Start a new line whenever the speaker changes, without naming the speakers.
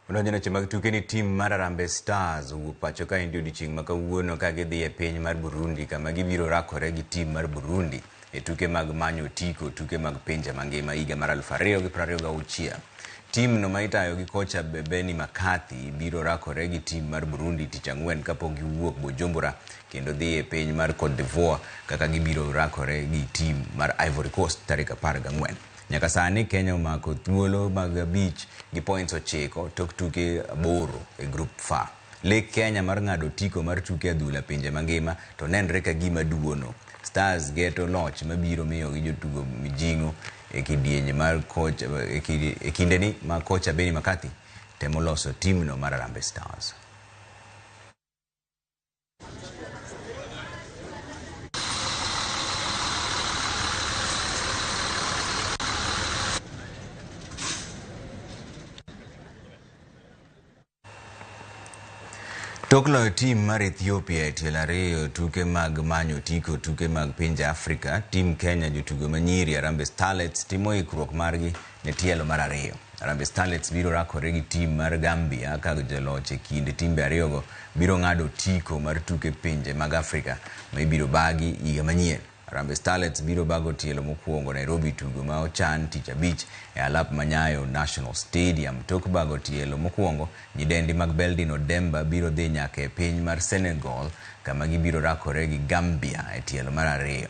Odonjo neche mag tuke ni tim mar Harambee Stars owuok pacho kaendi odiechieng' ma kawuono ka gidhi e piny mar Burundi kama gibiro rakore gi tim mar Burundi e tuke mag manyo otiko tuke mag pinje mangima higa mar 2026. Timno ma itayo gi kocha Bebeni Makathi biro rakore gi tim mar Burundi tich ang'wen kapok giwuok Bujumbura kendo dhi e piny mar Cote d'Ivoire kaka gibiro rakore gi tim mar Ivory Coast tarik 14. Nyaka sani Kenya omako thuolo mag abich gi points ochiko tok tuke aboro e Group F. Lek Kenya mar ng'ado otiko mar tuke adhula pinje mangima to nenre ka gima duono. Stars geto loch mabiro miyogi jotugo mijing'o e kidienje mar koch, e kidi- e kindeni ma kocha Benni McCarthy temo loso timno mar Harambee Stars. Tok loyo tim mar Ethiopia e tielo ariyo tuke mag manyo otiko tuke mag pinje Afrika, tim Kenya jotugo manyiri Harambee Starlets timo ikruok margi E tielo mar ariyo, Harambee Starlets biro rakore gi tim mar Gambia ka joloch e kind timbe ariyogo biro ng'ado otiko mar tuke pinje mag Afrika ma ibiro bagi higa manyien. Harambee Starlets biro bago tielo mokwongo Nairobi tugo ma ochan tich abich e alap ma Nyayo National Stadium. Tok bago tielo mokwongo, nyidendi mag Beldin Odemba biro dhi nyaka e piny mar Senegal kama gibiro rakore gi Gambia e tielo mar ariyo.